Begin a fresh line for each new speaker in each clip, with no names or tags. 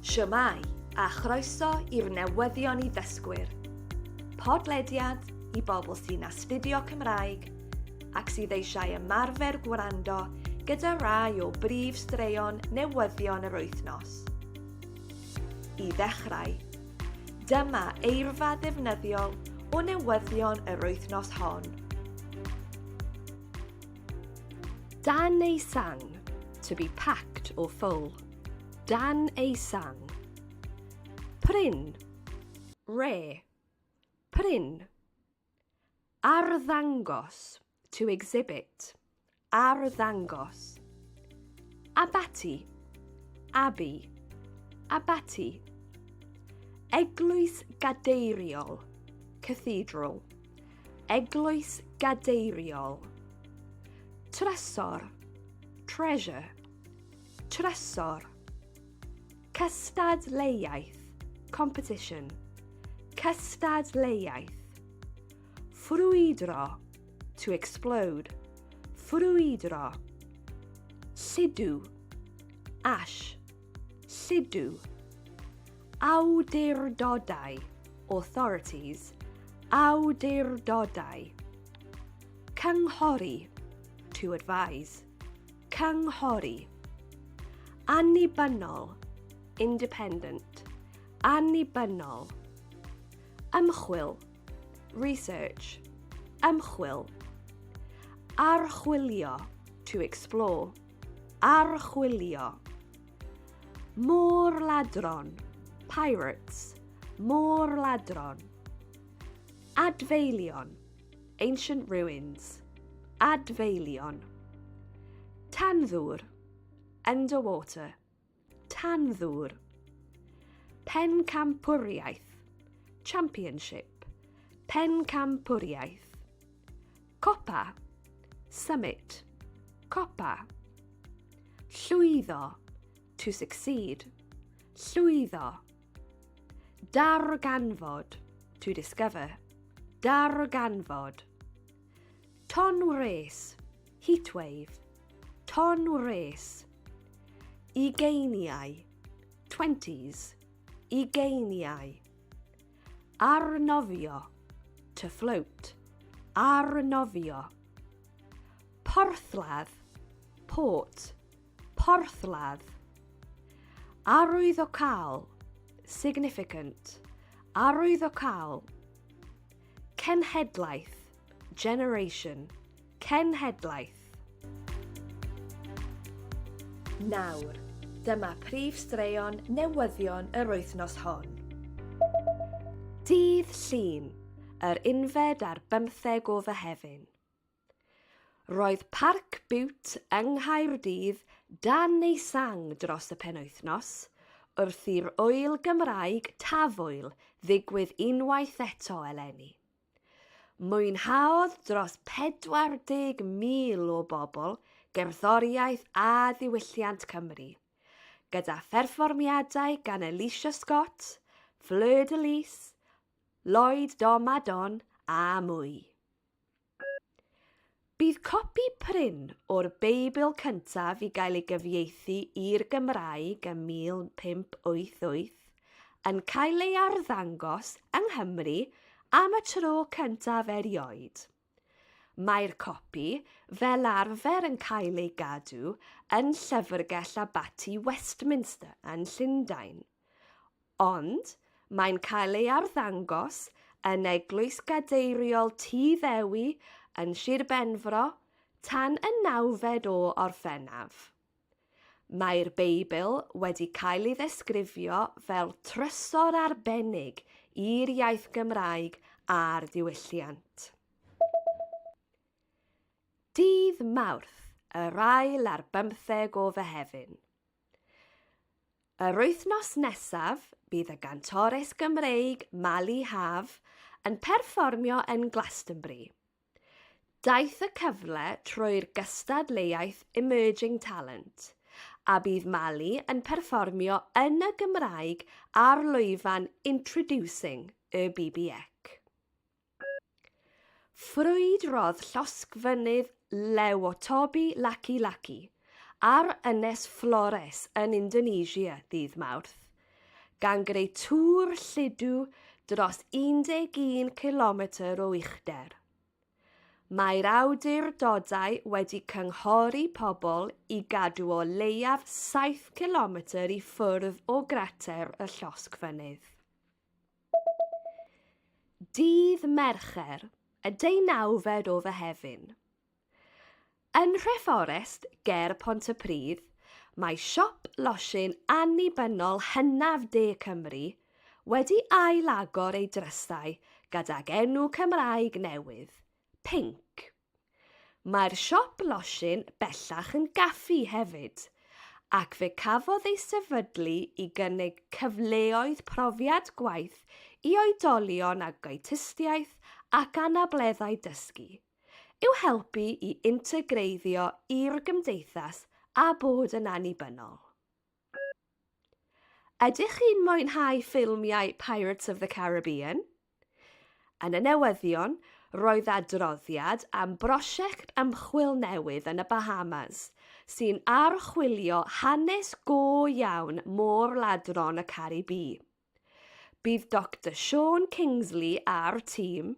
Shwmae, a chroeso i'r newyddion i ddysgwyr. Podlediad i bobl sy'n astudio Cymraeg ac sydd eisiau ymarfer gwrando gyda rai o brif straeon newyddion yr wythnos. I ddechrau, dyma eirfa ddefnyddiol o newyddion yr wythnos hon. Dan ei san, to be packed or full. Dan ei san. Prin, rare. Prin. Arddangos, to exhibit. Arddangos. Abaty, abbey. Abaty. Eglwys gadeiriol, cathedral. Eglwys gadeiriol. Trysor, treasure. Trysor. Cystadleuaeth, competition. Cystadleuaeth. Ffrwydro, to explode. Ffrwydro. Sidw, ash. Lludw. Awdurdodau, authorities, awdurdodau. Cynghori, to advise, cynghori. Annibynnol, independent, annibynnol. Ymchwil, research, ymchwil. Archwilio, to explore. Archwilio. Môr-ladron, pirates, môr-ladron. Adfeilion, ancient ruins, adfeilion. Tanddwr, underwater, Tanddŵr. Pencampwriaeth. Championship. Pencampwriaeth. Copa. Summit. Copa. Llwyddo. To succeed. Llwyddo. Darganfod. To discover. Darganfod. Ton wres, heatwave, ton wres. Ugeiniau, twenties, ugeiniau. Arnofio, to float, arnofio. Porthladd, port, porthladd. Arwyddocaol, significant, arwyddocaol. Cenhedlaeth, generation, cenhedlaeth. Nawr, dyma prif straeon newyddion yr wythnos hon. Dydd Llun, yr unfed ar bymtheg o Fehefin. Roedd Parc Bute yng Nghaerdydd dan ei sang dros y penwythnos, wrth i'r ŵyl Gymraeg Tafwyl ddigwydd unwaith eto eleni. Mwynhaodd dros 40,000 o bobl gerddoriaeth a diwylliant Cymru, gyda pherfformiadau gan Alicia Scott, Fleur de Lys, Lloyd Domadon a mwy. Bydd copi prin o'r Beibl cyntaf i gael ei gyfieithu i'r Gymraeg ym 1588 yn cael ei arddangos yng Nghymru am y tro cyntaf erioed. Mae'r copi fel arfer yn cael ei gadw yn Llyfrgell Abaty Westminster yn Llundain, Ond, mae'n cael ei arddangos yn Eglwys Gadeiriol Tŷ Ddewi yn Sir Benfro tan y nawfed o Orffennaf. Mae'r Beibl wedi cael ei ddesgrifio fel trysor arbennig i'r iaith Gymraeg a'r diwylliant. Dydd Mawrth, yr ail ar bymtheg o Fehefin. Yr wythnos nesaf, bydd y gantores Gymreig Mali Haf yn perfformio yn Glastonbury. Daeth y cyfle trwy'r gystadleuaeth Emerging Talent, a bydd Mali yn perfformio yn y Gymraeg ar lwyfan Introducing y BBEC. Ffrwydrodd llosg fynydd Lewotobi Laki-Laki ar Ynys Flores yn Indonesia ddydd Mawrth, gan greu tŵr lludw dros 11 cilometr o uchder. Mae'r awdurdodau wedi cynghori pobl i gadw o leiaf 7 cilometr i ffwrdd o grater y llosg fynydd. Dydd Mercher, y deunawfed o Fehefin. Yn Nhreforest, ger Pontypridd, mae siop losin annibynnol hynaf de Cymru wedi ail-agor ei drysau gydag enw Cymraeg newydd, Pinc. Mae'r siop losin bellach yn gaffi hefyd, ac fe cafodd ei sefydlu i gynnig cyfleoedd profiad gwaith i oedolion ag autistiaeth ac anableddau dysgu, i'w helpu i integreiddio i'r gymdeithas a bod yn annibynnol. Ydych chi'n mwynhau ffilmiau Pirates of the Caribbean? Yn y newyddion, roedd adroddiad am brosiect ymchwil newydd yn y Bahamas sy'n archwilio hanes go iawn môr-ladron y Caribî. Bydd Doctor Siôn Kingsley a'r tîm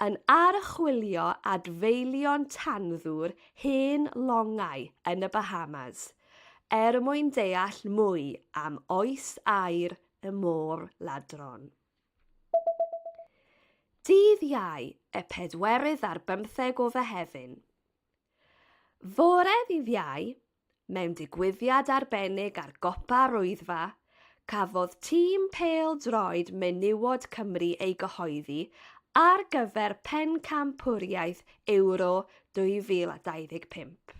yn archwilio adfeilion tanddŵr hen longau yn y Bahamas er mwyn deall mwy am oes aer y môr ladron. Dydd Iau, y pedwerydd ar bymtheg o Fehefin. Fore ddydd Iau, Mewn digwyddiad arbennig ar Gopa'r Wyddfa, cafodd tîm pêl-droed menywod Cymru ei gyhoeddi ar gyfer Pencampwriaeth Ewro 2025.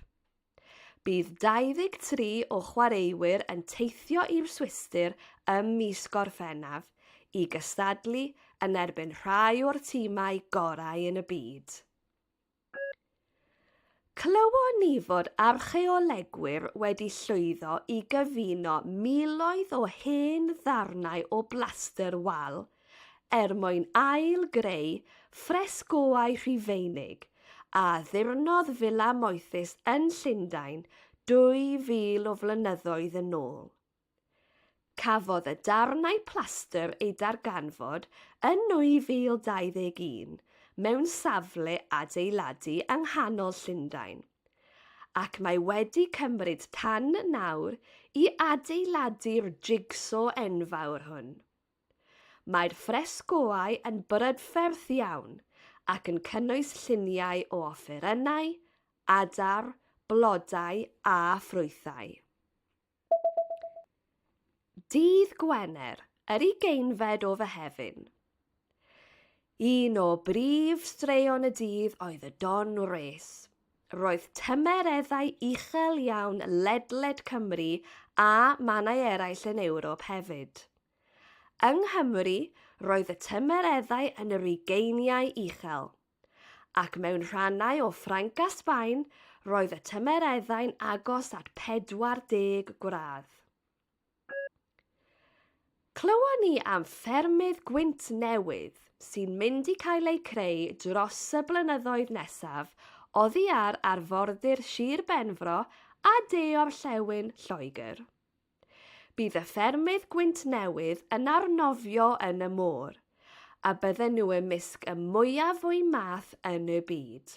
Bydd 23 o chwaraewyr yn teithio i'r Swistir ym mis Gorffennaf i gystadlu yn erbyn rhai o'r timau gorau yn y byd. Clywon ni fod archeolegwyr wedi llwyddo i gyfuno miloedd o hen ddarnau o blastr wal er mwyn ail-greu ffresgoau Rhufeinig a addurnodd fila moethus yn Llundain 2,000 o flynyddoedd yn ôl. Cafodd y darnau plastr eu darganfod yn 2021 mewn safle adeiladu yng nghanol Llundain, ac mae wedi cymryd tan nawr i adeiladu'r jig-so enfawr hwn. Mae'r ffresgoau yn brydferth iawn ac yn cynnwys lluniau o offerynnau, adar, blodau a ffrwythau. Dydd Gwener, yr ugeinfed o Fehefin. Un o brif straeon y dydd oedd y Don Race. Roedd tymereddau uchel iawn ledled Cymru a mannau eraill yn Ewrop hefyd. Yng Nghymru, roedd y tymereddau yn yr ugeiniau uchel. Ac mewn rhannau o Ffrainc a Sbaen, roedd y tymereddau'n agos at 40 gradd. Clywon ni am ffermydd gwynt newydd sy'n mynd i cael eu creu dros y blynyddoedd nesaf oddi ar arfordir Sir Benfro a de orllewin Lloegr. Bydd y ffermydd gwynt newydd yn arnofio yn y môr, a bydden nhw ymysg y mwyaf o'i math yn y byd.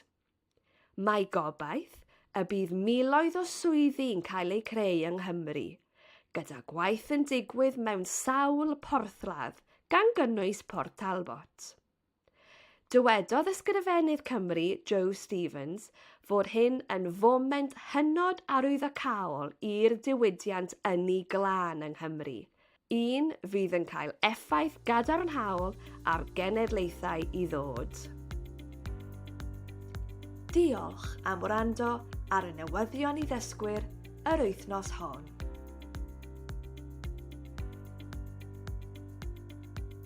Mae gobaith y bydd miloedd o swyddi yn cael eu creu yng Nghymru, gyda gwaith yn digwydd mewn sawl porthladd, gan gynnwys Port Talbot. Dywedodd Ysgrifennydd Cymru Jo Stevens fod hyn yn foment hynod arwyddocaol i'r diwydiant ynni glân yng Nghymru, un fydd yn cael effaith gadarnhaol ar genedlaethau i ddod. Diolch am wrando ar y newyddion i ddysgwyr yr wythnos hon.